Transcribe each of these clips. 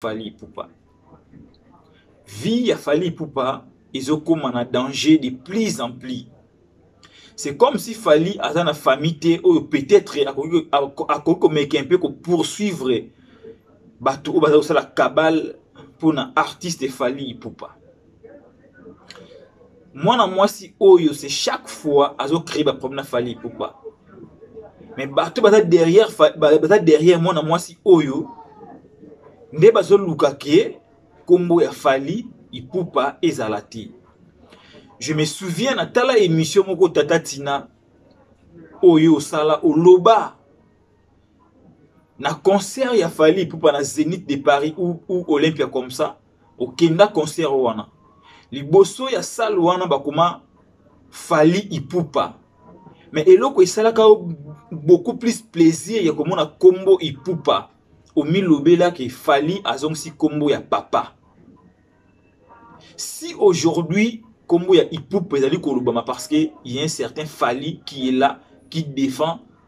Fally Ipupa. Vie ya Fally Ipupa ezokoma na danger de plus en plus. C'est comme si Fally aza na famille te oyo peut-être akoki komeka un peu ko poursuivre bato oyo baza kosala cabale mpo na artiste Fally Ipupa. mwana mwasi oyo c'est chaque fois azo créer ba problème na Fally Ipupa mais bato baza derrière baza derrière mwana mwasi oyo nde bazo luka ke kombo ya Fally Ipupa ezala te je me souviens na tala émission moko tata Tina oyo osala oloba na concert ya Fally Ipupa na Zenith de Paris ou, ou Olympia comme ça okenda concert wana liboso ya salle wana bakoma fali ipupa mais eloko esalaka yo beaucoup plus plaisir ya komona kombo ipupa omilobelaki fali azongisi kombo ya papa si aujourd'hui kombo ya ipupa ezali kolobama parce que il y a un certain fali qui est là qui défend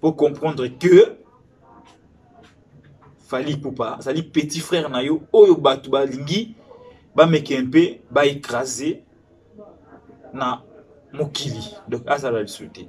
po comprendre que fali pupa azali petit frère na yo oyo bato balingi bameke mpe baekrase na mokili donc azala lisusu te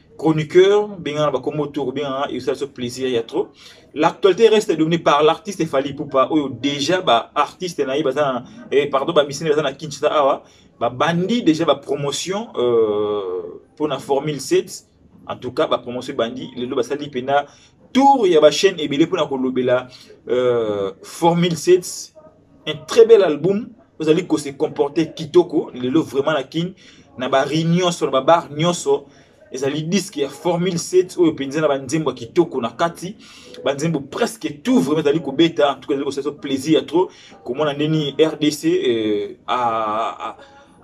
chroniqueur bengana bakombo to kobengana esala so plaisir ya trop l'actualité reste dominée par l'artiste Fally Ipupa oyo déjà ba artiste na ye baza na eh, pardon ba missionnaire baza na Kinshasa awa ba bandi déjà ba promotion euh, pour na formule 7 en tout cas ba promotion bandi lelo basali pena tour ya ba chaîne ebele pona kolobela euh, formule 7 un très bel album ozali ko se comporter kitoko lelo vraiment na kin na ba réunion sur ba bar nyonso ezali disque ya formule 7 oyo mpenza na banzembo ya kitoko na kati banzembo presque tout vraiment ezali kobeta en tout cas ezali kosala plaisir ya trop komona ndeni rdc euh, a, a,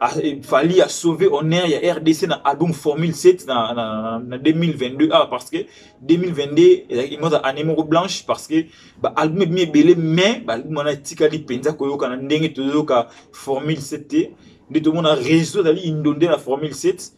Ah, Fali a sauvé honneur ya RDC na album Formule 7 na, na, na 2022 ah, parce que 2022 ezalaki moko année moko blanche parce que ba album ebimi ebele mais ba album wana etikali mpenza koyoka na ndenge toyoka Formule 7 te nde tomona réseau ezali indonde na Formule 7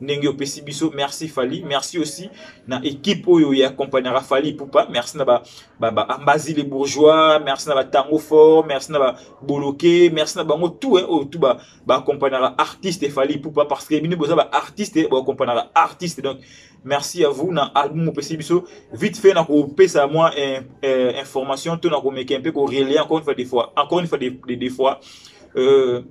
ndenge opesi biso merci fali merci aussi na équipe oyo ya accompagnaka fali pupa merci na ba, ba, ba ambazi les bourgeois merci na ba tango fort merci na ba boloke merci na bango tout eh, oyo tout ba, ba accompagnaka artiste fali pupa parce que bino boza ba artiste eh, ba accompagnaka artiste donc merci à vous na album opesi biso vite fait na kopesa mwa eh, eh, information to na komeka mpe korelai encore une fois des fois encore une fois des, des, des fois euh,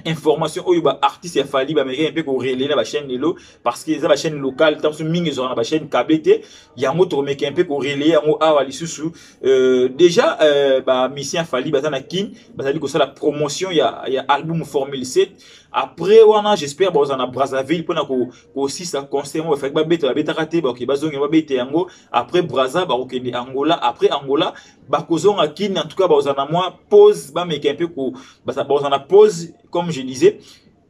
information oyo ba artistes ya Fally ba américain pe ko relayer na ba chaîne lelo parce que eza ba chaîne locale tant mingi zo na ba chaîne câble te yango to meka un peu ko relayer yango awa lisusu euh, déjà euh, ba musicien Fally baza na Kin bazali ko sala promotion ya ya album Formule 7 après wana j'espère baza na Brazzaville pona ko ko sisa concert ba faki ba beta ba betaka te ba ke bazongi ba beta yango après Brazza ba kokende Angola après Angola bakozonga kin en tout cas bakozala na mwa pause bameka mpe bakozala na pause comme je disais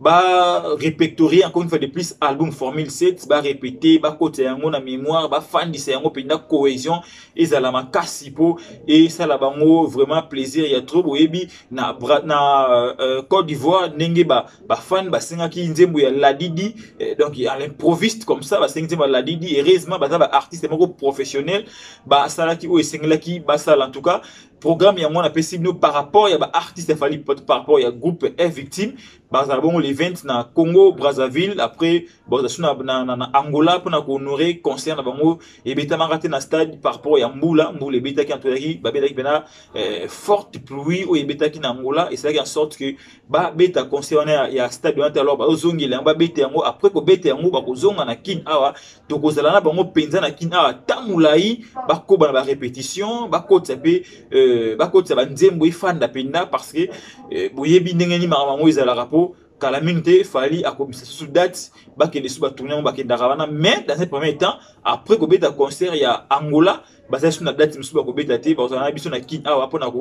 ba repectorie encore une fois de plus album formule 7 ba répéter ba kota yango na mémoire ba fandisa yango penda cohésion ezala makasi po et ça la bango vraiment plaisir ya trop boyebi na na euh, Côte d'Ivoire ndenge ba ba fan ba singaki nzembo ya Ladidi euh, donc à l'improviste comme ça ba singaki nzembo ya Ladidi heureusement baza ba artiste moko professionnel basalaki oyo esengelaki basala en tout cas programme yango napesi bino par rapport ya baartiste ya fali par rapport ya groupe e victime bazala bongo le 20 na congo brazzaville après bazasu na, na, na, na angola mpona kohonore concert na bango ebetamaka te na stade par rapport ya mbula mbula ebetaki antoyaki babetaki mpena eh, forte pluie oyo ebetaki na angola esalaki en sorte que babeta concert wana ya, ya stade wana te alors bazozongela yango babeta yango après kobeta yango bakozonga na kin awa tokozala na bango mpenza na kin awa ta molai bakoba na barépétition bakotisa mpe euh, bakotisa banzembo efanda mpenza parce que euh, boyebi ndenge nini makambo yango ezalaka mpo kala mingi te fali akomisa susu date bakende su batourne yango bakendaka wana mais dans un premier temps après kobeta concert ya angola bazali su na date mosusu bakobeta te bakozala na biso na kin awa mpona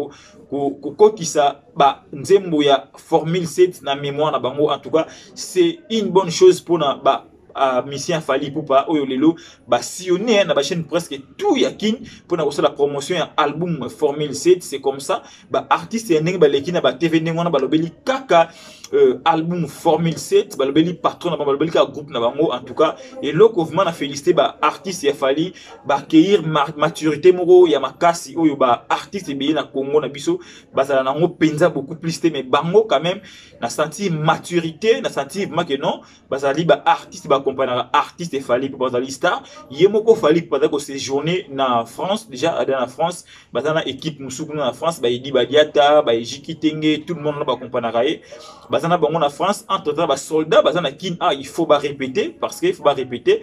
kokotisa banzembo ya formule 7 na mémoire na bango en tout cas c'est une bonne chose mpona ba uh, musicien Fally Ipupa oyo lelo ba sillonner na ba chaîne presque tout ya kin pona ko sala promotion ya album Formule 7 c'est comme ça ba artistes ya ndenge ba leki na ba TV ndenge wana ba lobeli kaka euh, album Formule 7 ba lobeli patron na ba lobeli ka groupe na bango en tout cas et loko vraiment na féliciter ba artistes ya Fally ba accueillir maturité moko ya makasi oyo ba artistes ebele na Congo na biso bazala nango penza beaucoup plus te mais bango quand même na senti maturité na senti vraiment que non bazali ba artiste baaccompagnaka artiste efali mpo bazali star ye moko fali mpo bazali kosejourne na france déjà ada na france baza na équipe mosusu kuna na france baedi badiata baeji kitenge tout le monde na baaccompagnaka ye baza na bango na france entre temps basoldat baza na kin ah il faut barépéter parce que il faut barépéter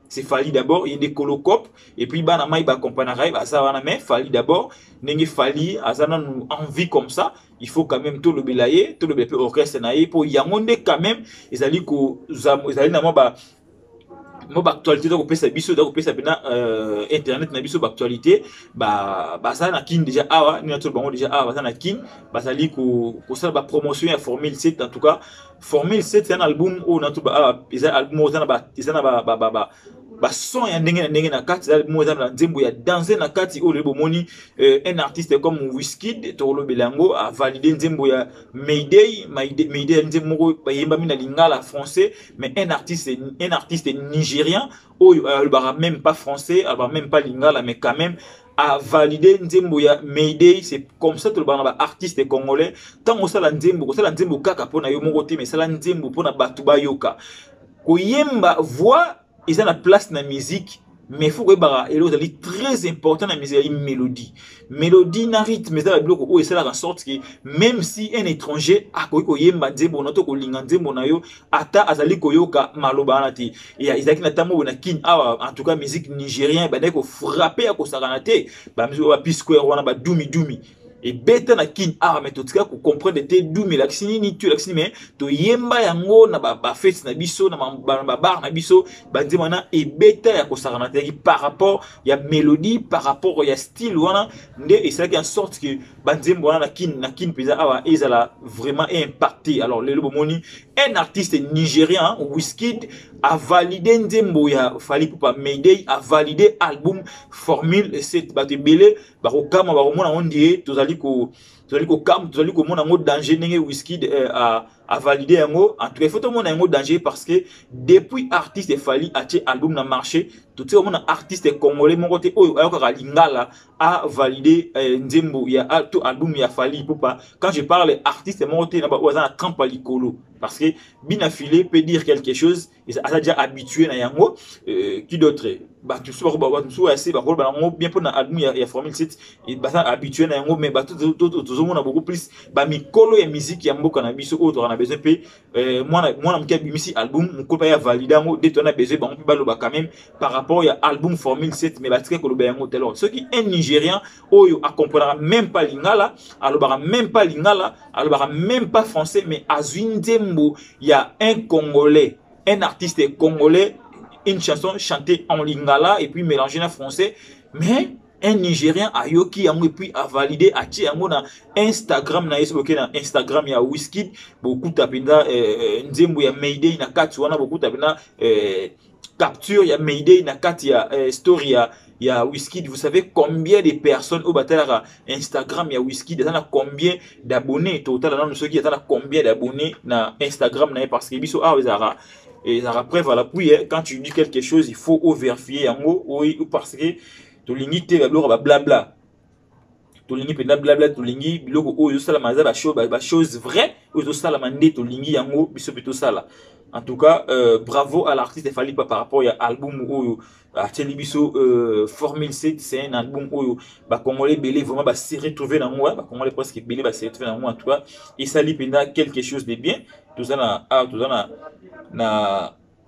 c'est Fally d'abord ye nde kolo cop et puis bana mai ba accompagnaka ye baza wana mais Fally d'abord ndenge Fally aza nanu en vie comme ça il faut quand même tolobela ye tolobela mpe orchestre na ye mpo yango nde quand même ezali koza ezali na mwa ba mo baactualité eza kopesa biso eza kopesa mpena euh, internet na biso baactualité ba, baza na kin déjà awa nini atolo bango déjà awa baza na kin bazali kosala bapromotion ya formule 7 en tout cas formule 7 eza na album oyo natuba ah, eza album oyo eza na ba bason ya ndenge na ndenge na kati eza mo eza na nzembo ya danse na kati oyo lelo bomoni euh, un artiste comme wiskid tokolobela yango avalide nzembo ya mayday mayday ya nzembo moko bayembami na lingala français mais un artiste, un artiste nigérien oyo alobaka même pas français alobaka même pas lingala mais quand même a valider nzembo ya Mayday c'est comme ça tout le monde ba artiste congolais tango sala nzembo ko sala nzembo kaka pona yo moko te mais sala nzembo pona batu ba yoka ko yemba voix eza na place na musique mais faut koyebaka eloko ezali très important na musique ezali mélodie mélodie na rythme eza na biloko oyo esalaka sorte que même si un étranger akoki koyemba nzembo na to kolinga nzembo na yo ata azali koyoka maloba wana te ezalaki na ntango boye na kin awa en tout cas musique nigérien ebandaki kofrape ya kosakana te bamiziki ba pisquare wana badumidumi ebeta na kin awa me totika kocomprendre te dumi elakisi nini tu elakisi nini me toyemba yango na bafeti na biso na babar na biso banzema wana ebeta ya kosakana te par rapport ya mélodie par rapport ya style wana nde esalaki en sorte que banzembo wana na kin na kin mpenza awa ezala vraiment impacté alors lelo bomoni un artiste nigérian wiskid avalide nzembo ya fali pupa mayday avalide album formule 7 bato ebele bakokama bakomona yango ndie tozali ko tozali kokam tozali komona yango danger ndenge wiskid euh, a validé yango en tout cas il faut tomona yango danger parce que depuis artiste Fally atie album na marché totie omona artiste congolais moko te oyo ayokaka lingala a validé eh, nzembo ya to album ya Fally Ipupa quand je parle artiste moko te na ba oyo aza na trempe likolo parce que bina filet peut dire quelque chose aza déjà habitué na yango euh, qui d'autre bato mosusu bako bato mosusu ya se bakoloba yango bien mpo na album ya, ya formule 7 baza habitué na yango mais bato tozomona beaucoup plus bamikolo ya miziki ya mboka na biso oyo tozalaka na besoin mpe euh, mwana mwana moke abimisi album mokolo mpe ya valide yango de tona besoin bango mpe baloba quand même par rapport ya album formule 7 mais batika koloba yango te alors soki un nigérian oyo a comprenaka même pas lingala alobaka même pas lingala alobaka même pas français mais azwi nzembo ya un congolais un artiste congolais une chanson chantée en lingala et puis mélangée na français mais un nigérien ayoki yango epuis avalide atie yango na instagram na ye soki okei na instagram ya wiskid bokuta mpenza eh, eh, nzembo ya mayday na kati wana bokuta mpenza eh, capture ya Mayday na kati ya eh, story ya ya Wizkid vous savez combien de personnes au batalaka Instagram ya Wizkid eza na combien d'abonnés totala nanu soki eza na combien d'abonnés na Instagram na ye parce que biso awa ezalaka ezalaka preuve à l'appui eh, quand tu dis quelque chose il faut overifier yango oui, parce que tolingi te babiloko bablabla tolingi mpenza blabla tolingi biloko oyo ezosalama eza bachose vrai oyo ezosalama nde tolingi yango biso mpe tosala en tout cas euh, bravo à l'artiste efali pa par rapport ya album oyo atieli biso euh, formule c c'est un album oyo bacongolais ebele vraiment base retrouve na yango bacongolais presque ebele base retrouve na yango en tout cas esali mpenza quelque chose de bien toza na awa ah, toza na na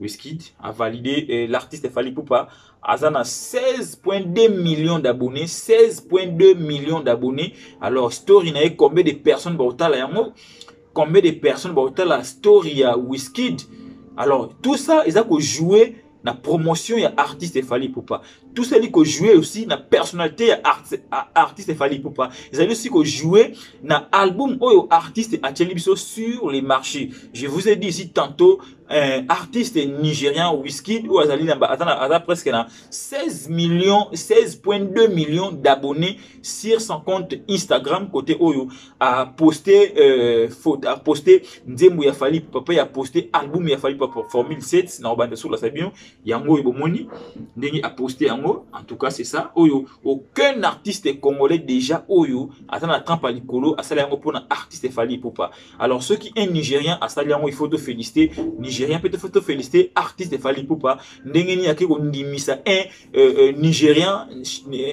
Wizkid a validé euh, l'artiste Fally Poupa aza na 16.2 millions d'abonnés 16.2 millions d'abonnés alors story na ye combien de personnes baotala yango combien de personnes baotala story ya Wizkid alors tout ça eza kojouer na promotion ya artiste efali pupa tout ça ezali kojoue aussi na personnalité ya art, artiste efali pupa ezali aussi kojoue na album oyo artiste atyeli biso sur les marchés je vous ai dit ici tantôt eh, artiste nigérian Wizkid oyo azali na aza, na, aza presque na 16 millions 16.2 millions d'abonnés sur son compte Instagram côté oyo a posté euh, faute a posté nzembo ya Fally Ipupa ya posté album ya Fally Ipupa Formule 7 na obanda sur la sabino yango oyo bomoni ndenge a posté yango en tout cas c'est ça oyo aucun artiste congolais déjà oyo aza na trempe ya likolo asala yango mpona artiste Fally Ipupa alors soki un nigérien asali yango il faut to féliciter nigérien mpe faut to féliciter artiste Fally Ipupa ndenge nini ake kondimisa un euh, euh, nigérien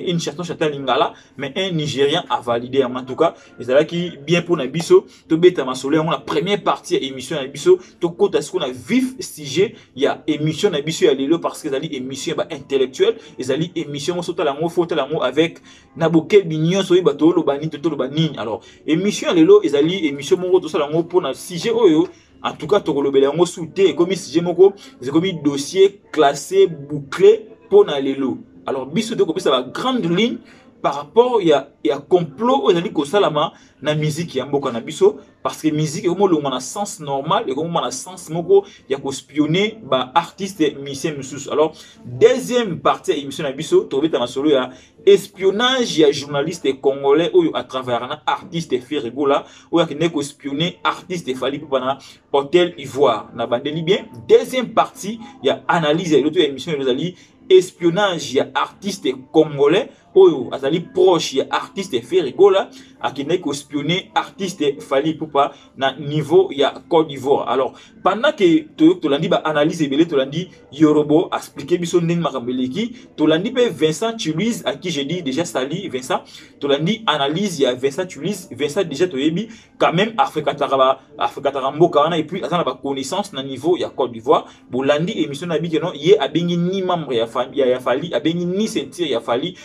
une chanson chata lingala mais un nigérien a validé yango en tout cas ezalaki bien mpo na biso tobeta masolo yango na première partie ya émission na biso tokota sikoyo na vif sujet ya émission na biso ya lelo parce que ezali émission ya ba intellectuel ezali émission yango sotala yango fotala yango avec na bokebi nyonso oyeba toloba nini to toloba nini alors émission ya lelo ezali émission moko tosala yango mpona sujet oyo en tout cas tokolobela yango su te ekomi sujet moko ekomi dossier classé bouclé mpona lelo alors biso te kopesa ba grande ligne par rapport ya, ya complot oyo ezali kosalama na miziki ya mboka na biso parce que musique ekomi olongwa na sens normal ekomi ma na sens moko ya kospionne baartiste musicien mosusu alors deuxième partie ya émission na biso tokobeta masolo ya espionnage ya journaliste congolais oyo atravayaka na artiste ferigola oyo akendeki kospionne artiste efali mpopa na hôtel ivoire na bandeli bien deuxième partie ya analyse ya eloto ya émission ezali espionnage ya artiste congolais oyo azali proche ya artiste Ferre Gola akendaki kospionner artiste Fally Ipupa na niveau ya Côte d'Ivoire. Alors pendant que to tolandi ba analyse ebele tolandi Yorobo expliquer biso ndenge makambo eleki, tolandi pe Vincent Chiluiz à qui j'ai dit déjà sali Vincent, tolandi analyse ya Vincent Chiluiz, Vincent déjà toyebi quand même afrekataka ba afrekataka mboka wana et puis aza na ba connaissance na niveau ya Côte d'Ivoire bolandi émission na bike non ye abengi ni membre ya famille ya, ya Fally abengi ni ceinture ya Fally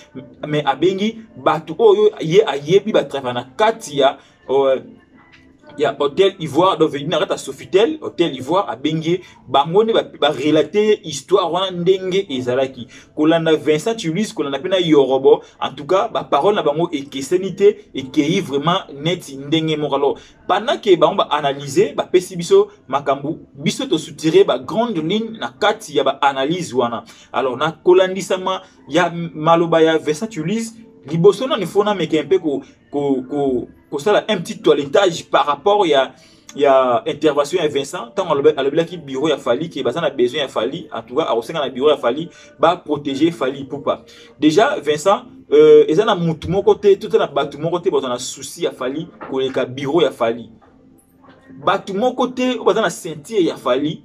mais abengi bato oyo ye ayebi ba travail na kati ya euh, ya hôtel Ivoire donc venu na kati ya Sofitel hôtel Ivoire abengi bango nde barelate ye histoire wana ndenge ezalaki kolanda vincent tulus kolanda mpe na yorobo en tout cas baparole na bango ekeseni te ekei vraiment neti ndenge moko alors pendant ke bango baanalyse bapesi biso makambo biso tosutire bagrande ligne na kati ya baanalyse wana alors na kolandisama ya maloba ya vincent tulus liboso nani fona meke mpe kosala ko, ko, ko un petit toiletage par rapport ya ya intervention ya Vincent ntango alobelaki bureau ya Fally ke baza na besoin ya Fally en tout cas akosenga na bureau ya Fally ba protéger Fally Ipupa déjà Vincent euh, eza na mutu moko te to na bato moko te baza na souci ya Fally koleka bureau ya Fally bato moko te oyo baza na ceinture ya Fally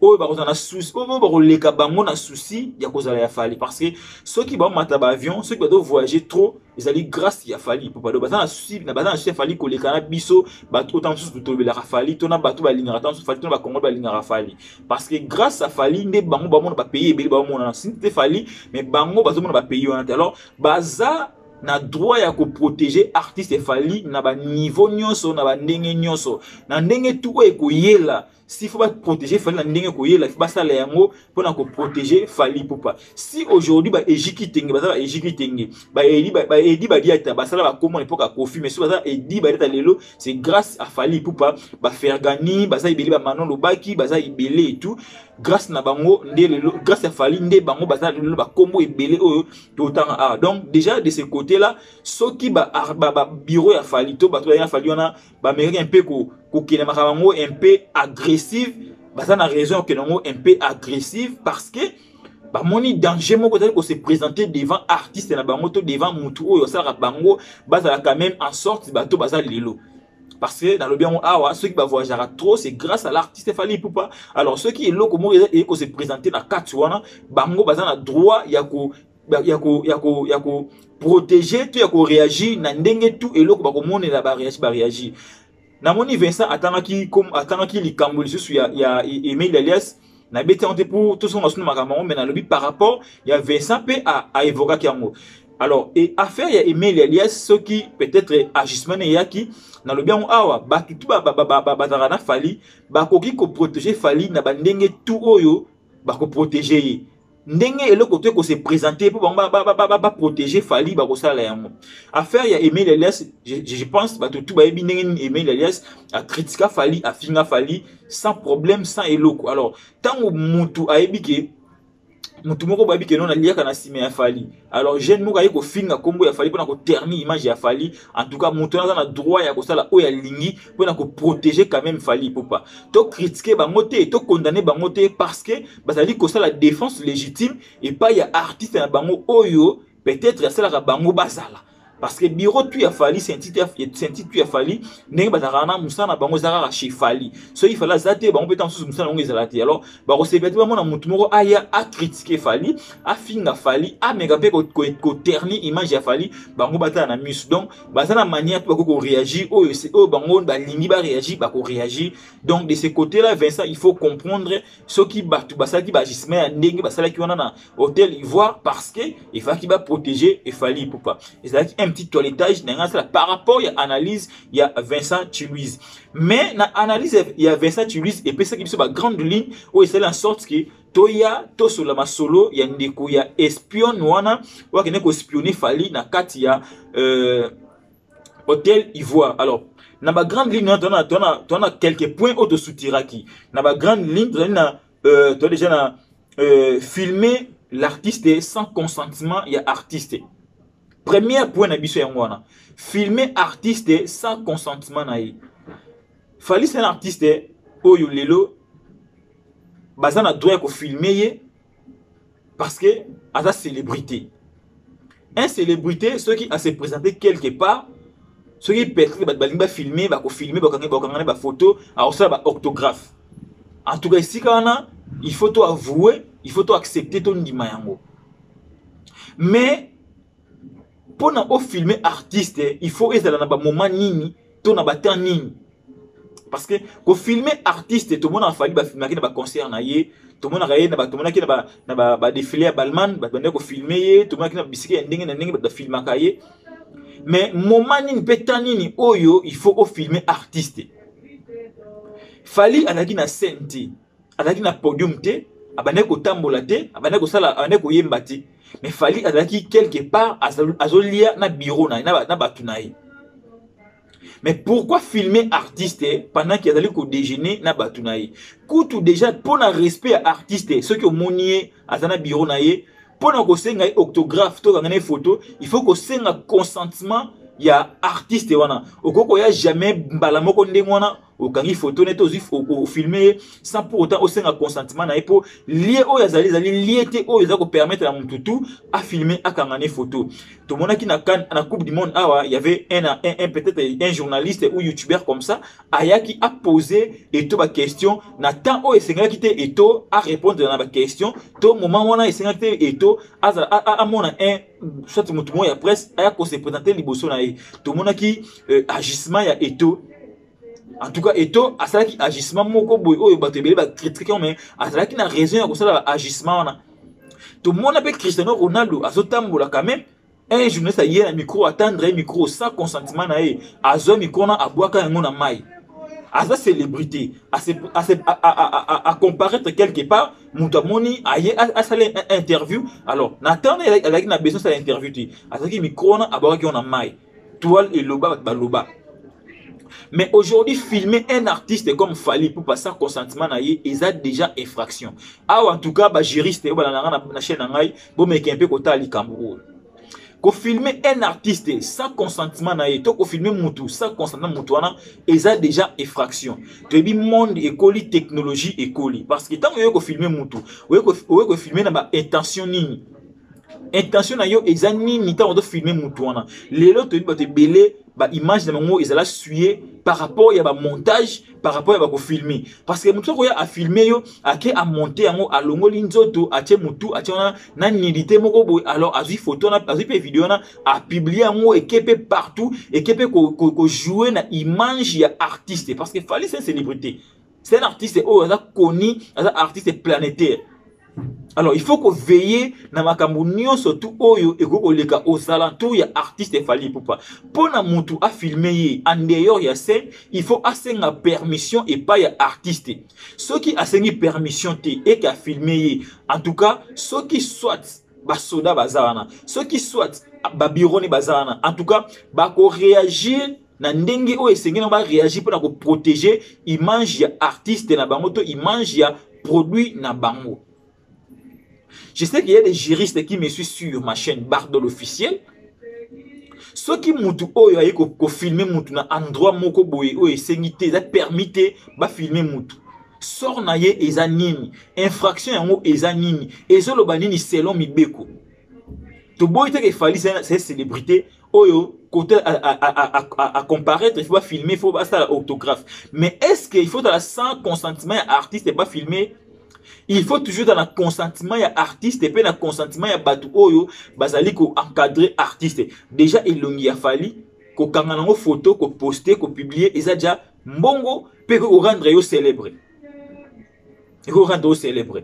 oyo bakozala na souci oyo bakoleka bango na souci ya kozala ya fali parce que soki bamata baavion soki bato voyage trop ezali grâce ya fali popado baza na souci na baza na souci ya fali koleka na biso bato ota mosusu tolobelaka fali to na bato balingaka ta mosusu fali to na bakongo balingaka fali parce que grâce ya fali nde bango bamona bapays ebele baomonana sini te fali mais bango bazomona bapays wana te alors baza na droit ya koprotege artiste efali na baniveau nyonso na bandenge nyonso na ndenge tu oyo ekoyela si faut ba protéger Fally na ndenge koyela ba sala yango pona ko protéger Fally Ipupa si aujourd'hui ba ejiki tenge ba sala ejiki tenge ba edi ba edi ba diata ba sala ba komo n'importe quoi kofi mais so ba sala edi ba diata lelo c'est grâce à Fally Ipupa ba Fergani ba sala ibele ba Manon Lobaki ba sala ibele et tout grâce na bango nde lelo grâce à Fally nde bango ba sala lelo ba kombo ebele oyo to tanga ah donc déjà de ce côté là soki ba ba, ba bureau ya Fally to ba to ya Fally wana bamekaki un peu kokende makambo yango un peu agressive baza na raison ya kokende yango un peu agressive parce que bamoni danger moko ezali kose présenter devant artiste na bango to devant motu oyo asalaka bango bazala quand même en sorte bato baza lelo parce que nalobi yango awa soki bavoyageaka trop c'est grâce à l'artiste fali pupa alors soki eloko moko eye kose présenter na kati wana bango baza na droit ya ko ya ko ya ko ya ko protéger to ya ko réagir na ndenge tout eloko ba ko monela ba réagir ba réagir na moni Vincent atangaki comme atangaki likambo lisusu ya ya Emile Elias na beti yango te mpo tosonga suna makambo yango mai nalobi par rapport ya Vincent mpe aevokaki yango alors e affaire ya Emile Elias soki peut-être agissement na eyaki nalobi yango awa bato tu bazalaka na Fally bakoki koprotege Fally na bandenge tu oyo bakoprotege ye ndenge eloko to ekose présente mpo bango baprotege fali bakosala yango affaire ya emile elias je pense bato tu bayebi ndenge nini emile elias akritika fali afinga fali sans problème sans eloko alors ntango motu ayebi ke motu moko bayebi ke non aliaka na nsima ya fali alors jeune moko aye kofinga nkombo ya fali mpona koterni image ya fali en tout cas motu wana aza na droit ya kosala oyo alingi mpona koprotege quand même fali ipupa tokritike bango te tokondane bango te parce que bazali kosala défense légitime epai ya artiste na bango oyo peut-être asalaka bango bazala parce que bureau tu ya fali sentite tu ya fali ndenge bazalaka na mosala na bango eza kaka chez fali soki fali aza te bango mpe ntango mosusu mosala yango ezala te alors bakosepela te bamona motu moko aya akritike fali afinga fali ameka mpe koterni image ya fali bango batala na miso donc baza na manière mpe bakoki koréagir oyo oyo bango balingi baréagir bakoréagir donc de ce côté là vincent il faut comprendre soki bato basalaki baagissement ya ndenge basalaki wana na hotel ivoire parce que efalaki baprotege efali ipupa ezalaki un petit toiletage ndenge asala par rapport ya analyse ya vincent chiluise mais na analyse ya vincent chiluise epesaki biso bagrande ligne oyo esali en sorte que toya tosolola masolo ya ndeko ya espion wana oyo akende kospionne fali na kati ya euh, Hôtel Ivoire. Alors, na ba grande ligne wana tona tona tona quelques points auto soutiraki. Na ba grande ligne tozali na euh toi déjà na euh, filmer l'artiste sans consentement ya artiste. Premier point na biso yango wana. Filmer artiste sans consentement na ye. Fally c'est un artiste oyo lelo baza na droit ya ko filmer ye parce que aza célébrité un célébrité soki a se présenter quelque part soki peut-être bato balingi bafilme bakofilme bakangana bafoto akosala baorthographe en tout cas esika wana il faut to avoue il faut to accepter tondima yango mais pona o filmer artiste il faut ezala na ba moment nini to na ba temps nini parce que ko filmer artiste to mona fali ba filmaki na ba concert na ye to mona ye na ba to monaki na ba na ba, ba défilé ya Balman ba bande ko filmer ye to monaki na bisiki ya ndenge na ndenge ba filmaka ye mais moment nini pe temps nini oyo il faut o filmer artiste Fali alaki na scène te azalaki na podium te abandaki kotambola te abandaki kosala abandaki koyemba te mais fali azalaki quelque part azolia na bureau na ye na bato na ye mais pourquoi filmer artiste pendant ke azali kodejeuner na bato na ye kutu déjà mpo na respect ya artiste soki omoni ye aza na bureau na ye mpo na kosenga ye octographe tokanga na ye photo il faut kosenga consentement ya artiste wana okoki koya jamais mbala moko ndenge wana okangi photo nete ozwi ofilme ye sans pour autant osenga consentement na ye mpo lie oyo azali ezali lie te oyo eza kopermettre na motu tu afilme akanga ne photo tomonaki na, kan, na coupe du monde awa y avait un, un, un peut-être un journaliste ou youtubeur comme ça ayaki apose eto baquestion na temps oyo esengelaki te eto arépondre na baquestion to moment wana esengelaki te eto amona un soit motu moko ya presse aya kose présente liboso na ye tomonaki euh, agissement ya eto en tout cas eto asalaki agissement moko boye oyo bato ebele bakritike mais azalaki na raison ya kosala agissement wana tomona mpe cristiano ronaldo azotambola quand même un journaliste aye na micro atendre ye micro sans consentement na ye azwa micro wana abwaka yango na mai aza célébrité acomparaître quelque part moto amoni aye asala interview alors na temps azalaki na besoin asala interview te azalaki micro wana abwakaki yango na mai toile eloba bato baloba mais aujourd'hui filmer un artiste comme fali pupa sans consentement na ye eza déjà infraction awa en tout cas bajuriste oyo balanda nga na chaîne na ngai bomeke mpe kotala likambo oyo kofilme un artiste sans consentement na ye to kofilme mutu sans consentement mutu wana eza déjà effraction toyebi monde ekoli technologie ekoli parce que ntango oye kofilme mutu oye kofilme na baintention nini intention na yo eza nini ntango ozofilme motu wana lelo toyebi bato ebele baimage na bango ezala suye par rapport ya bamontage par rapport ya bakofilme parce que motu akoya afilme yo ake amonte yango alongoli nzoto atie motu atie wana na nidite moko boye alors azwi foto wana azwi mpe video wana apiblie yango eke mpe partout eke mpe kojoue na image ya artiste parce que fali se célébrité c'est un artiste oyo aza connu aza artiste planétaire alors il faut koveille na makambo nyonso tu oyo ekoki koleka aux alentours ya artiste efali epupa mpo na motu afilme ye en dehors ya scène il faut asenga permission epai ya artiste soki asengi permission te eke afilme ye en tout cas soki soit basoda baza wana soki soit babironi baza wana en tout cas bakoreagir na ndenge oyo esengeli ba réagir pona ko protéger image ya artiste na bango to image ya produit na bango je sais qu'il y a des juristes qui me suivent sur ma chaîne Bardol officiel soki mutu oyo aye ko, ko filmer mutu na endroit moko boye oyo esengi te eza permis te ba filmer mutu sort na ye eza nini infraction yango eza nini ezoloba nini selon mibeko toboyi te ke fali c'est célébrité oyo côté à comparaître il faut pas filmer il faut pas ça autographe mais est-ce qu'il faut la sans consentement ya artiste et pas filmer il faut toujours dans le consentement ya artiste mpe na consentement ya bato oyo bazali koencadre artiste déjà elongi ya fali kokanga nango photo koposte kopublie eza deja mbongo mpe korendre yo célèbre ekorendre yo célèbre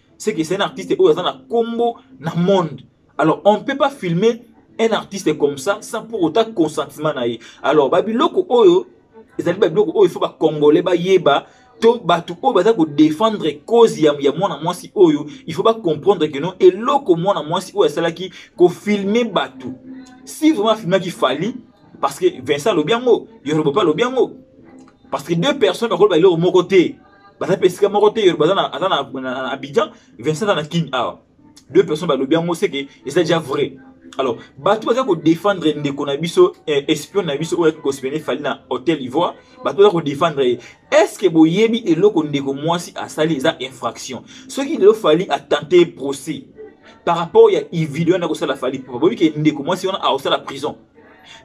c'est que c'est un artiste oyo aza na kombo na monde alors on ne peut pas filmer un artiste comme ça sans pour autant consentement na ye alors babiloko oyo ezali babiloko oyo ifo bacongolais bayeba to bato oyo baza kodefendre cause ya, ya mwana mwasi oyo il faut bacomprendre que non eloko mwana mwasi oyo asalaki kofilme bato si vraiment afilmaki fali parce que vincent alobi yango yorobopa alobi yango parce que deux personnes bakoloba eloko moko te baza mpe esika moko te yoro baza na aza na abidjan vincent aza na kin awa deux personnes balobi yango seke eza déjà vrai alors bato baza kodefendre ndeko na biso eh, espion na biso oyo kospene fali na hotel ivoire bato baza kodefendre ye estce boyebi eloko ndeko mwasi asali eza infraction soki lelo fali atente procès par rapport ya ivideo wana akosala fali pupa boyebi ke ndeko mwasi wana akosala prison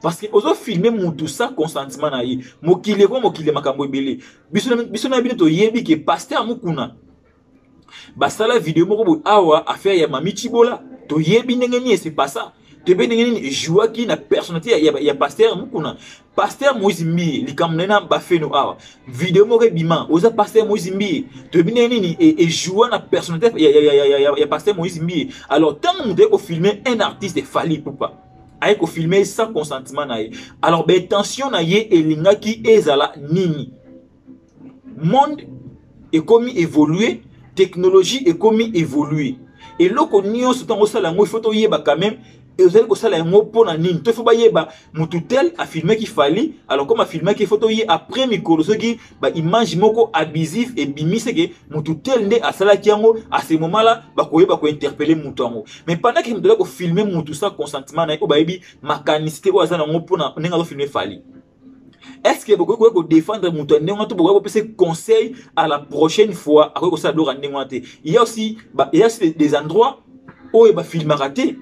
parce que ozofilme mutu sa consentement na ye mokili ekoma mokili ya makambo ebele biso na biso na bino toyebi ke pasteur mukuna basala video moko boye awa affaire ya mami chibola toyebi ndenge nini ese pasa toyebi ndenge nini ejouaki na personnalité ya, ya, ya pasteur mukuna pasteur moïse mbiye likambo na ye na bafeno awa video moko ebima oza pasteur moïse mbiye toyebi ndenge nini ejoua na personnalité ya, ya, ya, ya, ya, ya pasteur moïse mbiye alors ntango moto aye kofilme un artiste fali pupa aye kofilme ye sans consentement na ye alors baintention na ye elingaki ezala nini monde ekomi évolue technologie ekomi évolue eloko nyonso ntango osala yango ifo toyeba quand même ezali kosala yango mpo na nini to ifo bayeba motu tel afilmaki fali alors comme afilmaki ifo toye après mikolo soki ba image moko abusif ebimisi ke mutu tel nde asalaki yango à ce moment là bakoyeba kointerpele mutu yango mais pendant ke mutu azali kofilme mutu sans consentement na ye oyo bayebi makanisi te oyo aza na yango mpona ndenge azofilme fali est ce que bokoki koya kodefendre moto ya ndenge wana to bokoki kopesa conseil à la prochaine fois akoki kosala biloko ya ndenge wana te ya aussi des endroits oyo bafilmaka te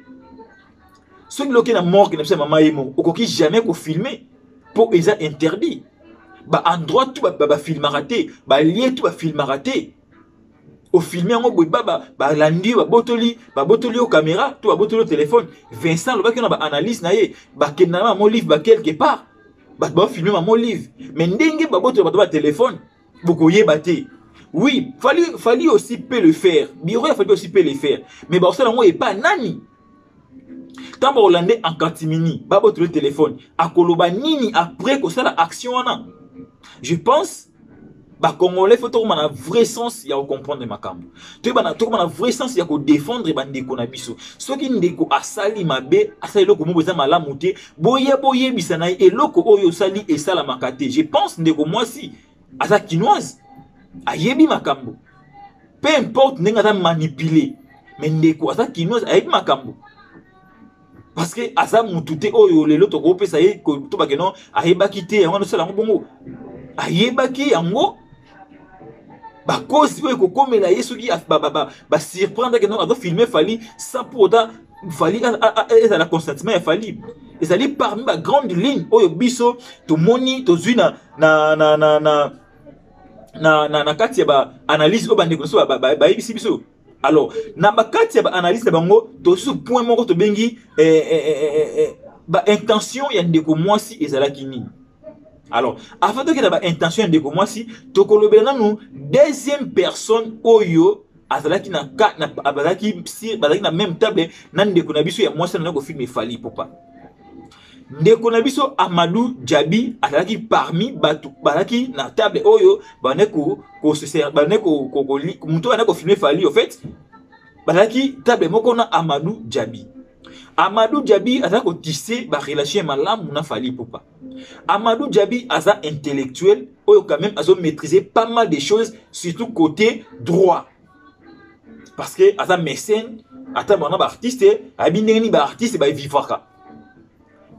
soki loki na morgue na biso ya mama ye moko okoki jamais kofilme mpo eza interdit baendroit tu bafilmaka te balie tu bafilmaka te ofilme yango boye balandi yo babotoli babotoli yo caméra to babotoli yo telefone vincent alobaki na baanalyse na ye bakenda na mama olive ba quelque part bato baofilme mama olive mais ndenge babotoli bato batelefone bokoyeba te oui fali fali aussi peut le faire biro ya fali aussi peut le faire mais bakosala yango epa nani ntango bakolande en catimini babotolo telefone akoloba nini après kosala action wana je pense bacongolais fo tokoma na vrai sens ya kocomprendre makambo toyebana tokoma na vrai sens ya kodefendre bandeko na biso soki ndeko asali mabe asali eloko moko eza malamu te boya boyebisa na ye eloko oyo osali esalamaka te je pense ndeko mwasi aza kinoise ayebi makambo peu importe ndenge aza manipule me ndeko aza kinoise ayebi makambo parce que aza mutu te oyo lelo tokopesa ye tobake no ayebaki te yango wana osala yango bongo ayebaki yango bakozi oyo ekokomela ye soki basurprendreke no azofilme fali sans pour autant fali ezala consentement ya fali ezali parmi bagrande ligne oyo biso tomoni tozwi na, na, na, na, na na, na, na kati ya baanalyse oyo bandeko na biso bayebisi biso alors na bakati ya baanalyse na bango tosusu point moko tobengi eh, eh, eh, eh, baintention ya ndeko mwasi ezalaki nini alors avant tokenda baintention ya ndeko mwasi tokolobela nanu deuxième personne oyo azalaki na bazalaki na même table na ndeko na biso ya mwasi anani kofilme efali popa ndeko na biso amadou jabi azalaki parmi bato bazalaki na table oyo bande bande moto bande kofilme fali au fait bazalaki table moko na amadou jabi amadou jabi aza kotise barelation ya malamu na fali pupa amadou jabi aza intellectuel oyo quand même azo maîtrise pas mal de choses surtout côté droit parce que aza mécène ata bana baartiste ayebi ndenge nini baartiste baevivaka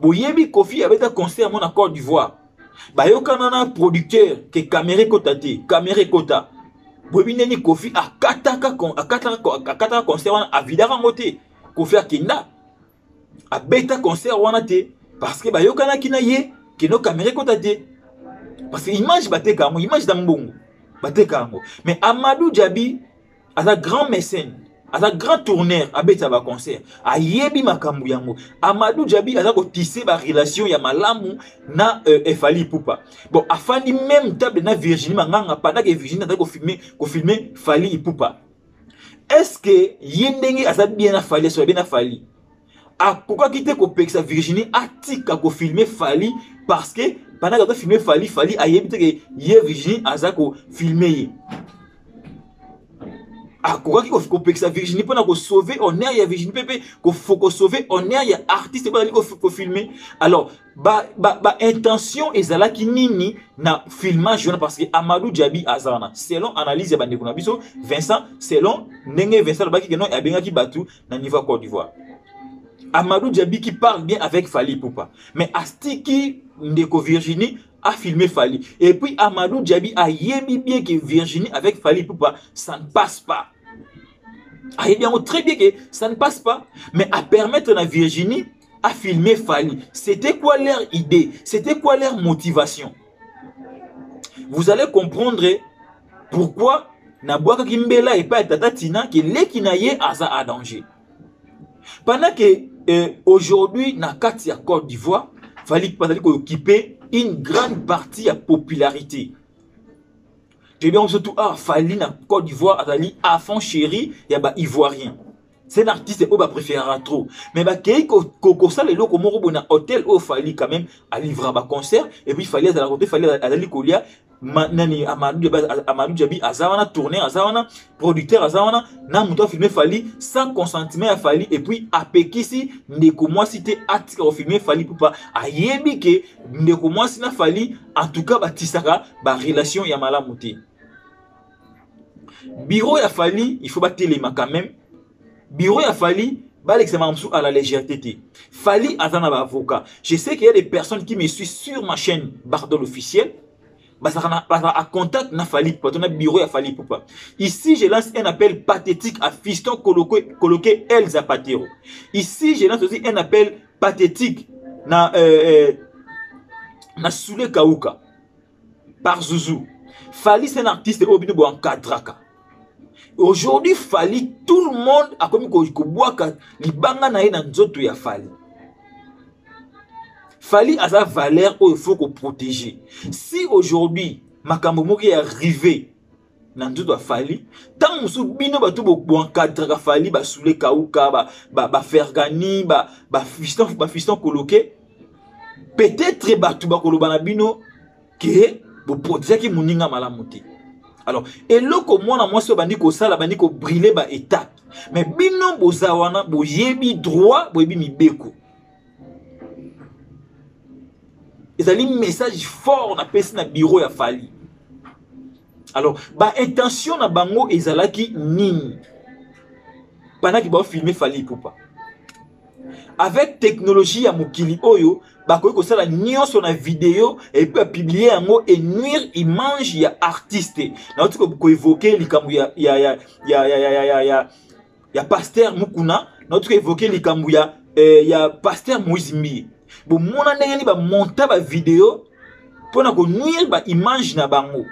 boyebi kofi abeta concert yango na côte d'ivoire bayokana na producteur ke kamere ekota te kamere ekota boyebi ndenge nini kofi akataka akataka concert wana avidaka yango te kofi akenda abeta concert wana te parce que bayokanaki na ye keno kamera ekota te parce que image bateka yango image na mbongo bateka yango mais amadou jabi aza grand mécène aza grand tourneur abetisa baconcert ayebi makambo yango amadou jabi aza kotise barelation ya malamu na euh, efali ipupa bon afandi meme table na virginie manganga pendant ke virginie azali kofilme kofilme fali ipupa est ce que ye ndenge aza bien na fali asola bien na fali akokaki te kopekisa virginie atika kofilme fali parce que bandaki azofilme fali fali ayebi te ke ye virginie aza kofilme ye akokaki kopekisa virginie mpona kosauve honneur ya virginie mpe mpe kosauve honneur ya artiste mpo azali kofilme alors ba, ba, ba intention ezalaki nini na filmage wana parce que amadou diabi aza wana selon analyse ya bandeko na biso vincent selon ndenge vincent alobaki ke non abengaki bato na niveau ya côte d'ivoire amadou diabi qui parle bien avec fali poupa mais astiki ndeko virginie a filmé fali et puis amadou diabi ayebi bien que virginie avec fali poupa ça ne passe pas ayebi yango très bien que ça ne passe pas mais apermettre na virginie a filmer Fally. C'était quoi leur idée C'était quoi leur motivation Vous allez comprendre pourquoi Nabuaka Kimbela et pas Tata Tina que leki na ye aza à danger. Pendant que euh, aujourd'hui na kati ya Côte d'Ivoire, Fally bazali ko occuper une grande partie ya popularité. Toyebi yango surtout ah Fally na Côte d'Ivoire azali à fond chéri ya ba Ivoiriens. c'est un artiste oyo bapréférera trop mais bakei kosala eloko moko boye na hôtel oyo fali quand même alivra baconcert et puis fali azala kote fali azali kolia nani amadou jabi aza wana tourner aza wana producteur aza wana na moto afilme fali sans consentement ya fali et puis apekisi ndeko mwasi te atika kofilme fali pupa ayebi ke ndeko mwasi na fali en tout cas batisaka barelation ya malamu te bureau ya fali il faut batelema quand même bureau ya fali balekisa makambo mosusu à la légèreté te fali aza na baavocat je sais qu'il y a des personnes qui me suivent sur ma chaîne bardol officiel bazalaka à contact na fali pupa to na bureau ya fali pupa ici je lance un appel pathétique à fiston coloqué, coloqué elza patero ici je lance aussi un appel pathétique na, euh, euh, na soule kauka par zouzou fali c'est un artiste oyo bino boencadraka aujourd'hui fali tout le monde akomi kobwaka libanga na ye na nzoto ya fali fali aza valeur oyo faut koprotege si aujourd'hui makambo moko ya rive na nzoto ya fali ntango mosusu bino bato boencadraka fali basule kauka bafergani ba, ba, ba bafiston ba koloke peut-être bato bakoloba na bino ke boprotegeaki moninga malamu te alors eloko mwana mwasi oyo bandi kosala bandi kobrile baetape mais bino boza wana boyebi droit boyebi mibeko ezali message fort napesi na bureau ya fali alors baintention na bango ezalaki nini panaki baofilme fali ipupa avec technologie ya mokili oyo bakoki kosala nyonso na video epuis bapiblie yango enuire image ya artiste nauti koevoke likambo ya, ya, ya, ya, ya, ya, ya, ya ya pasteur mukuna nauti koevoke likambo ya, eh, ya pasteur moïse mbiye bomona ndenge nini bamonta bavideo mpo na konuire baimage na bango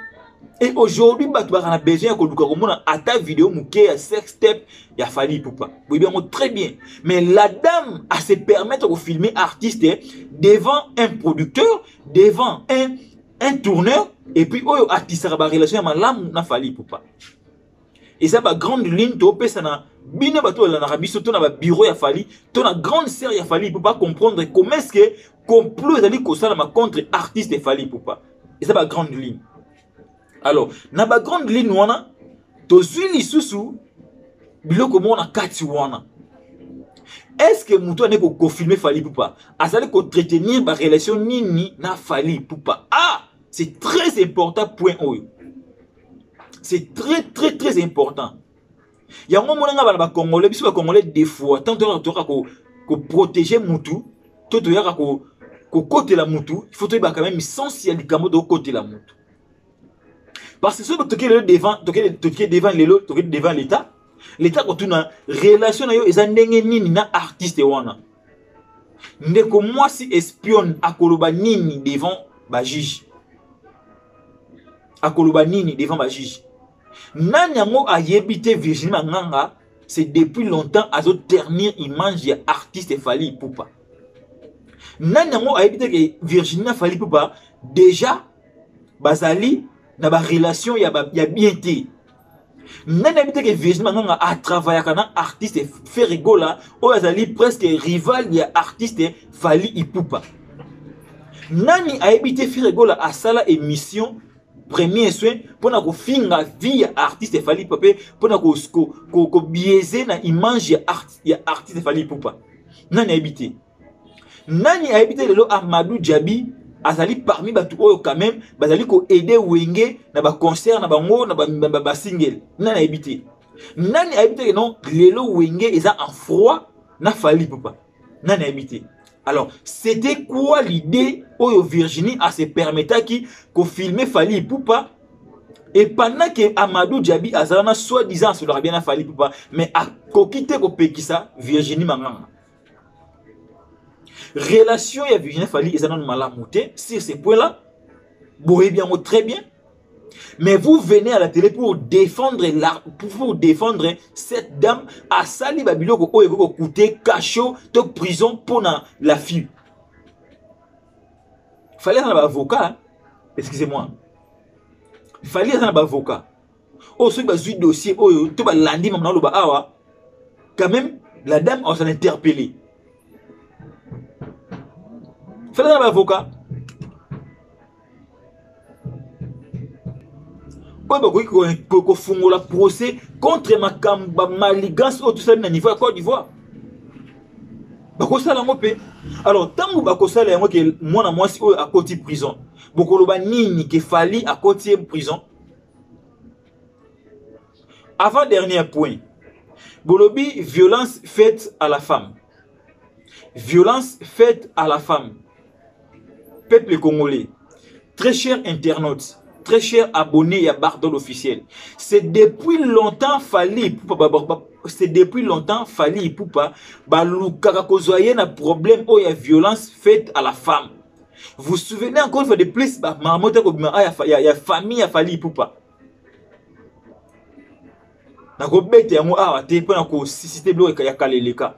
et aujourd'hui bato baka na besoin ya koluka komona ata video moke ya sex tape ya fali ipupa boyebi yango très bien mais la dame a se permettre kofilme artiste devant un producteur devant un, un tourneur et puis oyo atisaka barelation ya malamu na fali ipupa eza ba grande ligne topesa na bino bato balandaka biso to na babiro ya fali to na grande sœur ya fali ipupa comprendre comment est ce que complot ezali kosalama contre artiste fali ipupa eza ba grande ligne alors na ba grande ligne wana tozwi lisusu biloko moko na kati wana est ce que moto ane koconfirme fali ipupa azali koentretenir barelation nini na fali ipupa ah c'est très important point oyo c'est très très très important yango omonanga bana bacongolais biso bacongolais de fois tant toyaka toyaka koprotege mutu to toyaka kokotela mutu il faut toyebaka meme sens ya likambo tokotela mutu parce que soki toke lelo devant toke devant lelo toke devant l'état l'état kotuna relation na yo eza ndenge nini na artiste wana ndeko mwasi espionne akoloba nini devant bajuge akoloba nini devant ba juge nani yango ayebi te virginie manganga c'est depuis longtemps azo ternir image ya artiste fali ipupa nani yango ayebi te ke virginie na fali ipupa déjà bazali na barelation ya, ba, ya bien te nani ayebi te ke virgin manganga atravayaka na artiste ferigola oyo azali presque rival ya artiste fali ipupa nani ayebi te ferigola asala émission premier soin mpo na kofinga vie ya artiste fali ipupa mpe mpo na kobiese ko, ko, ko na image ya, art, ya artiste fali ipupa nani ayebi te nani ayebi te lelo amadou djabi azali parmi bato oyo quand même bazali koaide wenge na baconcert na bango na basingele nani ayebi te nani ayebi te non lelo wenge eza en froid na fali papa nani ayebi te alors c'était quoi l'idée oyo virginie ase permetaki kofilme fali ipupa et pendant que amadou djabi azala na soi disant asolaka bien na fali ipupa mais akoki te kopekisa virginie manganga relation ya virginie fali eza nanu malamu te sur ce point là boyebi yango très bien mais vous venez à la télé pour défendre la, pour défendre cette dame asali babiloko oyo ekoki kokute cachot to prison mpo na la fille fali aza na baavocat excusez-moi fali aza na baavocat oyo soki bazwi dossier oyo to balandi mama naloba awa quand même la dame on s'en interpellé fela na baavocat oyo bakoki kofungola procès contre makambo bamaligance oyo tosali na niveau ya côte d'ivoire bakosala yango mpe alors ntango bakosala yango ke mwana mwasi oyo akoti prison bokoloba nini ke fali akoti ye prison avant dernier point bolobi violence faite à la femme violence faite à la femme peuple congolais très cher internaute très cher abonné ya bardol officiel c'est depuis longtemps fali c'est depuis longtemps fali ipupa balukaka kozwa ye na problème oyo ya violence faite à la femme vous souvenez encore une fois de plus ba marmotte ko bima ah, ya, ya, ya famille ya fali ipupa na ko bete yango awa te pona ko susciter blo ya kaleleka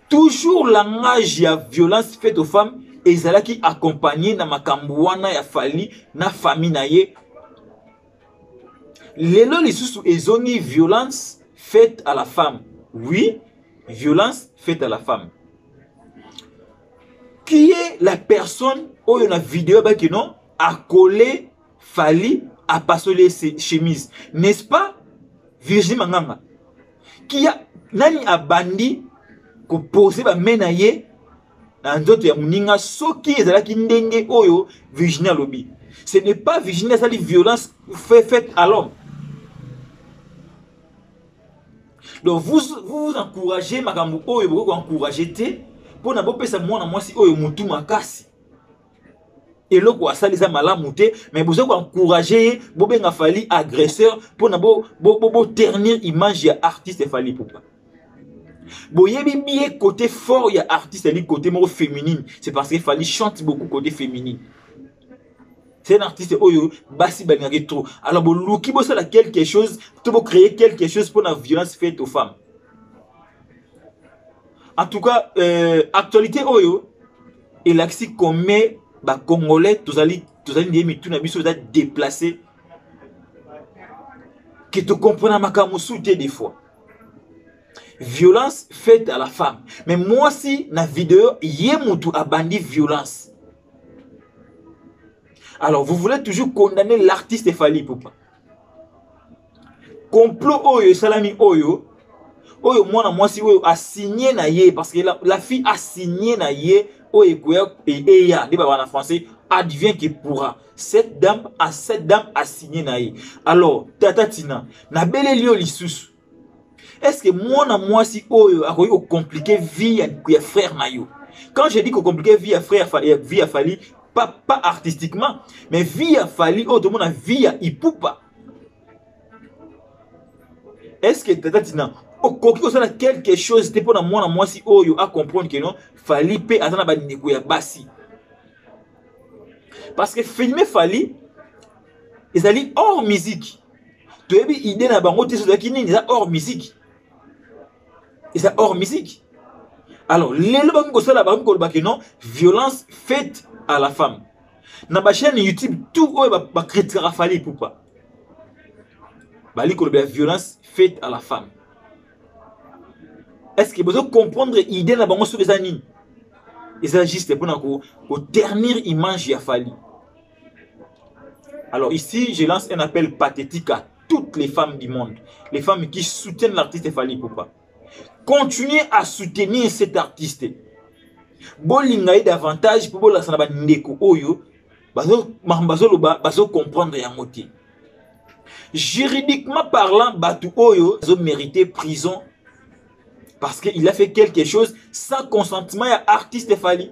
toujours langage ya violence faite aux femmes ezalaki accompagné na makambo wana ya fali na famille na ye lelo lisusu ezongi violence faite à la femme oui violence faite à la femme qui est la personne oyo na video baki non akole fali apasoli ye chemise n'est ce pas virginie manganga qui a nani abandi kopose bame na ye na nzoto ya moninga soki ezalaki ndenge oyo virginie alobi ce n'est pas virginie asali violence faite à l'homme donc vous vous, vous encouragez makambo oyo bokoki koencourage te mpo na bopesa mwana mwasi oyo motu makasi eloko asali eza malamu te mais boza koencourage ye bobenga fali agresseur mpo na boternir bo, bo, bo image ya artiste fali pupa boyebi bien côté fort ya artiste ali côté moko féminine c'est parce que fali chante beaucoup côté féminine c'est un artiste oyo basi balingaka ye trop alors boluki bosala quelque chose to bocréer quelque chose mpo na violence faite aux femmes en tout cas euh, actualité oyo elakisi combien bacongolais tozali tozali ndeye mitu na biso eza déplace ke tokomprena makambo mosusu te des fois violence faite à la femme mais mwasi na video ye motu abandi violence alors vous voulez toujours condamner l'artiste fali pupa complot oyo esalami oyo oyo mwana mwasi oyo asigne na ye parce que la, la fille asigne na ye oyo ekoya eya nde baba na français advient que pourra cette dame a cette dame asigne na ye alors tata tina nabeleli yo lisusu est ce que mwana mwasi oyo akoki kocomplike vie ya, ya frère na yo quand je dis kocomplike vie ya frère ya vie ya fali pas, pas artistiquement mais vie ya fali oyo tomona vie ya ipupa est ce que tata tina okoki kosala quelque chose te mpo na mwana mwasi oyo acomprendre ke non fali mpe aza na bandeko ya basi parce que filme fali ezali hors musique toyebi idée na bango te ezalaki nini eza hors musique eza hors musique alors lelo bakomi kosala bakomi koloba ke non violence faite à la femme na bachaîne youtube tout oyo bakritikaka fali pupa bali koloba ya violence faite à la femme est ce que bozo comprendre idée na bango soki eza nini eza juste mpona koternir image ya fali Alors ici, je lance un appel pathétique à toutes les femmes du monde, les femmes qui soutiennent l'artiste Fali Poupa. Continuez à soutenir cet artiste. bolinga ye davantage mpo bolakisa na bandeko oyo makambo bazoloba bazocomprendre yango te juridiquement parlant bato oyo azomérite prison parce qu'il a fait quelque chose sans consentement ya artiste fali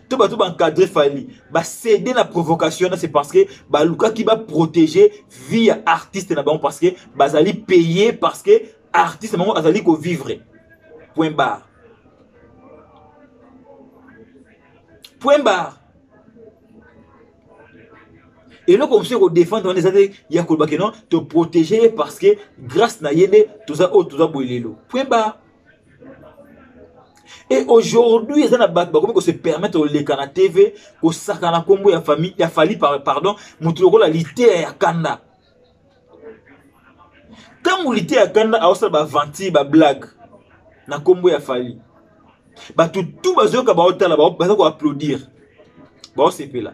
to bato baencadre fali bacede na provocation na c'est parce que balukaki baprotege vie ya artiste na bango parce que bazali paye parce que artiste na bango azali kovivre point barre point barre eloko mosusu ekodefendre wana eza te ya koloba ke non toprotege ye parce que grâce na ye nde toza oyo toza boye lelo point barre et aujourd'hui eza na bato bakomi kose permettre koleka na tv kosaka na nkombo ya famille ya fali pardon moto lokola liteya ya kanda ntango liteya ya kanda aosala baventure bablague na nkombo ya fali bato tu bazoyoka baotala baza koapplaudire baosepela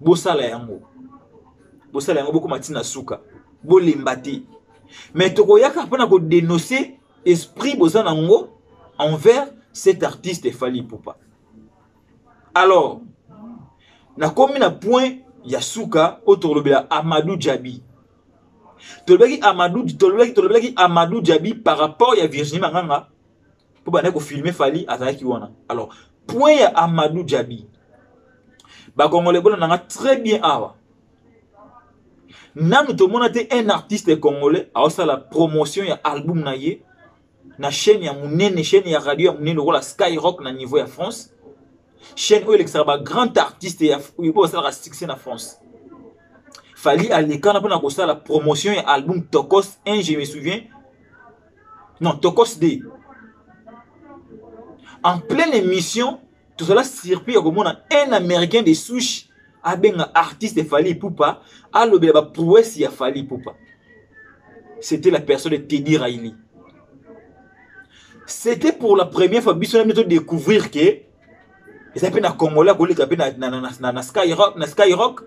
bosala yango bosala yango bokoma ntina suka bolemba te mais tokoyaka mpona kodenonce esprit boza na yango envers cet artiste efali pupa alors nakomi na point ya suka oyo tokolobela amadou jabi tolobelaki amadou tolobelaki tolobelaki amadou jabi par rapport ya virginie manganga mpo bandaki kofilme fali azalaki wana alors point ya amadou jabi bakongole bona nanga très bien awa nanu tomona te un artiste congolais aosala promotion ya album na ye na chaîne ya monene chaîne ya radio ya monene lokola skyrock na niveau ya france chaîne oyo elekisaka bagrand artiste oyo basalaka succès na france fali alekana mpona kosala promotion ya album tokos 1 je me souviens non tokos de en pleine émission tozala surpris ya komona un américain de souche abenga artiste fali ipupa alobela baprouesse ya fali ipupa c'était la personne de teddy raili c'était pour la première fois biso na biso découvrir que eza mpe na congolais akoleka mpe na, na, na, na, na skyrock na skyrock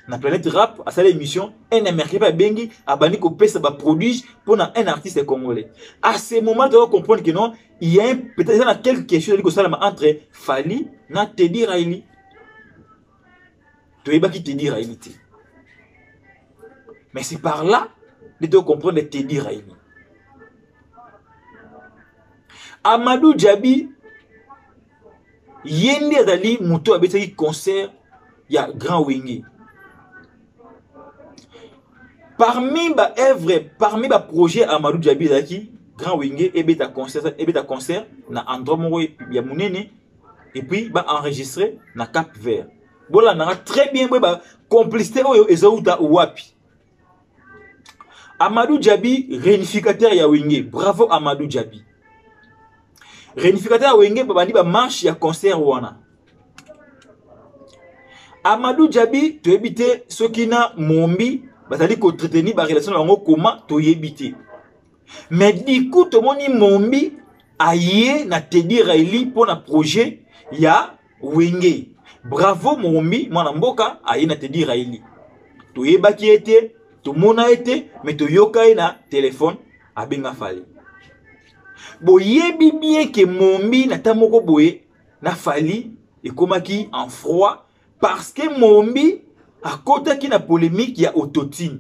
na planète rap asala émission un américain mpe abengi abandi kopesa baproduits mpo na un artiste congolais à ce moment toza comprendre que non il y a un- peut-être eza na quelque chose ezali kosalama entre fali na tedi raili toyebaki tedi raili te mais c'est par là nde tocomprendre tedi raili amadou djabi ye nde azali moto abetaki concert ya grand wenge parmi ba œuvre parmi ba projet amadou djabi ezalaki grand wenge ebeta concert, ebeta concert na endroit moko ya monene et puis ba enregistré na cap vert bolandaka très bien boye ba complicité oyo ezowuta wapi Amadou Djabi, réunificateur ya Wenge. Bravo Amadou Djabi. Réunificateur ya Wenge, babandi ba marche ya concert wana. Amadou Djabi, toyebi te soki na Mombi bazali ko entretenir ba relation na bango koma toyebi te. Mais du coup tomoni Mombi aye na Teddy Riley mpo na projet ya wenge bravo mombi mwana mboka aye na tedi raili toyebaki ye te tomona ye te me toyoka ye na telefone abenga fali boyebi bien ke mombi na ta moko boye na fali ekomaki en froid parce que mombi akotaki na polemique ya autotine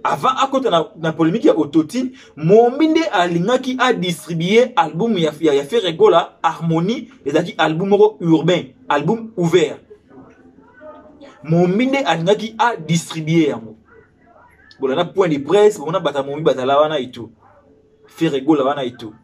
avant akota na, na polémique ya autotune mombi nde alingaki adistribue album ya, ya, ya ferre gola harmonie ezalaki album moko urbain album ouvert mombi nde alingaki adistribue yango bolanda point de presse bomona bata mombi bazala wana etu ferre gola wana etu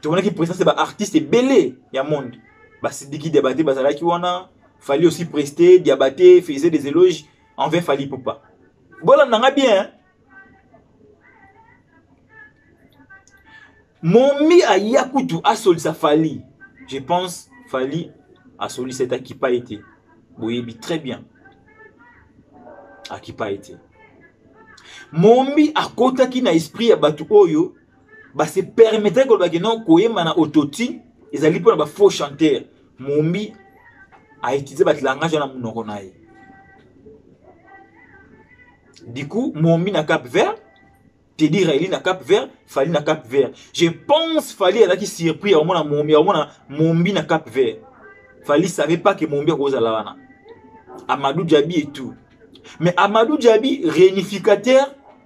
tomonaki presence ya baartiste ebele ya monde basidiki diabate bazalaki wana fali aussi preste diabate faisait des éloges envers fali popa bolanda nga bien hein? momi aya kutu asolisa fali je pense fali asolisa ete akipa ye te boyebi très bien akipa ye te mombi akotaki na esprit ya bato oyo base permettre koloba ke non koyemba na autotune ezali mpo na bafaux chanteur mombi autilize bato langage wana monoko na ye du coup mombi na cap vert tedi raeli na cap vert fali na cap vert je pense fali azalaki surpris ya komona mombi ya komona mombi na cap vert fali savait pas ke mombi akozala wana amadou jabi et tout mais amadou jabi réunificateur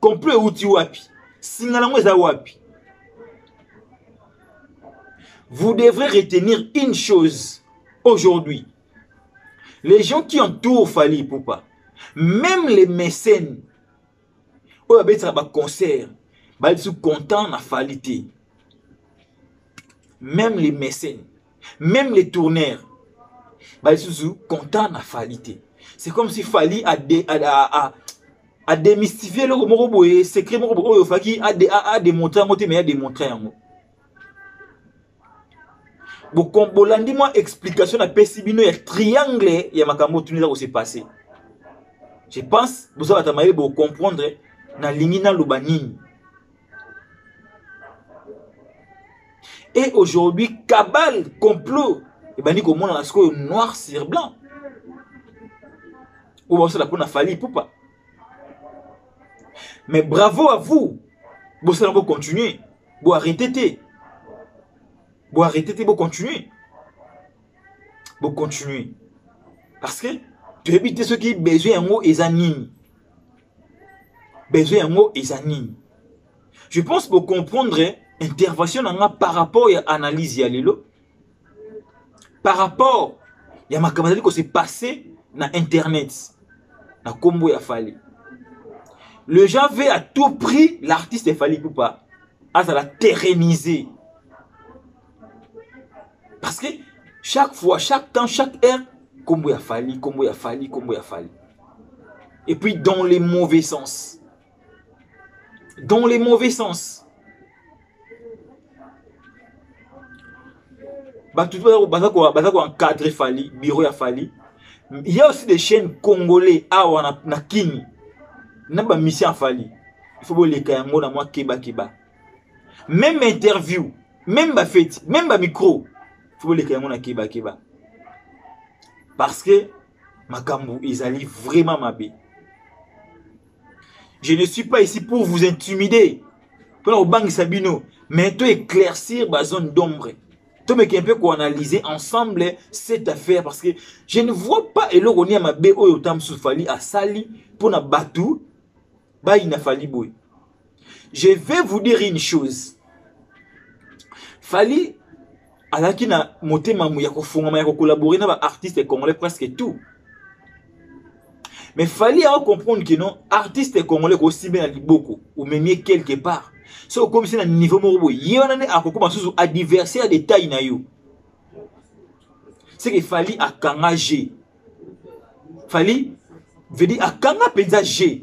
complot euti wapi singa nango eza wapi vous devrez retenir une chose aujourd'hui les gens qui entourent fali ipupa même les mécènes oyo abetisaka baconcert bali biso content na fali te même les mécènes Même les tourneurs, bah, ils sont contents na Fali te. C'est comme si Fali a, dé, a, a, a, a démystifié le moko boye, secret moko boye, oyo Faki a, dé, a, a démontré yango te, mais a démontré yango. bolandi mwa explication napesi bino ya triangle ya makambo otuni eza kose passe je pense boza bato ya mayele bocomprendre nalingi naloba nini et aujourd'hui cabale complot ebandi komonana sikoyo noir sur blanc oyo basala mpona fali pupa mais bravo à vous bosala bocontinue boarrete te boarrete te bocontinue bocontinue parce que toyebi te soki besoin yango eza nini besoin yango eza nini je pense bocomprendre intervention na nga par rapport ya analyse ya lelo par rapport ya makambo azali kose passe na internet na nkombo ya fali le gens veut à tout prix l'artiste fali pupa azala terreniser parce que chaque fois chaque temps chaque heure kombo ya fali kombo ya fali kombo ya fali et puis dans les mauvais sens dans les mauvais sens bato baza koencadre fali bureau ya fali il y a aussi des chaînes congolais awa na, na kini na bamisio ya fali il faut boleka yango na mwa kebakeba meme interview meme bafeti meme bamicro fo boleka yango na kebakeba parce que makambo ezali vraiment mabe je ne suis pas ici pour vous intimider mpona kobangisa bino mais to éclaircir bazone d'ombre tomeka un peu koanalyse ensemble cette affaire parce que je ne vois pas eloko ni ya mabe oyo ta mosusu fali asali mpo na bato bayina fali boye je vais vous dire une chose fali azalaki na motema ya kofungama ya kocollabore na baartiste congolais presque tout mais fali yango comprendre ke non artiste congolais kosibe na liboko omemie quelque part so okomisi na niveau moko boye ye wana nde akokoma susu adversaire de taille na yo seke fali akanga je fali vedi akanga mpenza je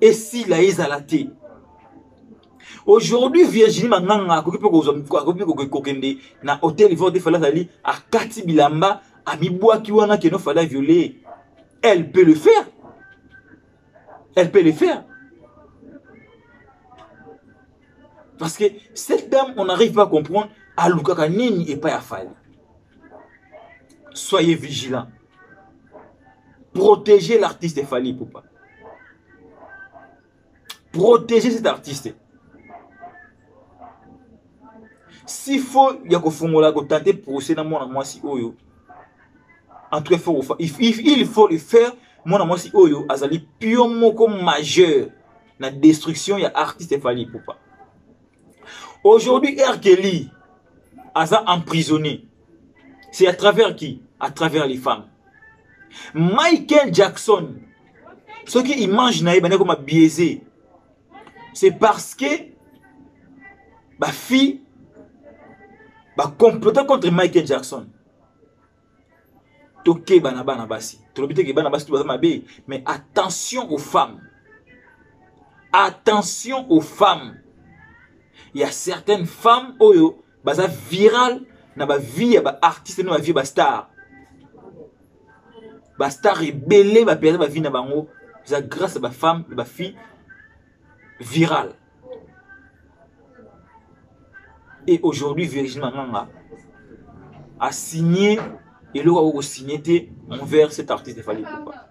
esila ezala te aujourd'hui virginie manganga akoki mpe akoki mpe kokende na hotel ivoire te fala azali akati bilamba amibwaki wana keno fala viole elle peut le faire elle peut le faire parce que cette dame on n'arrive pas à comprendre alukaka nini epai ya fali soyez vigilant Protégez l'artiste Fally Poupa. Protégez cet artiste. S'il faut, il y a kofungola ko tenter procès na mwana mwasi oyo. En tout cas, faut, il, il faut le faire. Mwana mwasi oyo azali pion moko majeur na destruction ya artiste Fally Poupa. Aujourd'hui, R. Kelly aza emprisonné. c'est à travers qui à travers les femmes michael jackson soki image na ye bandaki koma biaise c'est parce que bafille bacomplote contre michael jackson tokeba na bana basi tolobi te ke bana basi to baza mabe mais attention aux femmes attention aux femmes il y a certaines femmes oyo baza viral na ba vie ya ba artiste na ba vie ba star ba star ebele ba perdre ba vie na bango eza grâce à ba femme ba fille viral et aujourd'hui Virginie Manganga a signé eloko akoki kosigne te envers cet artiste efali epupa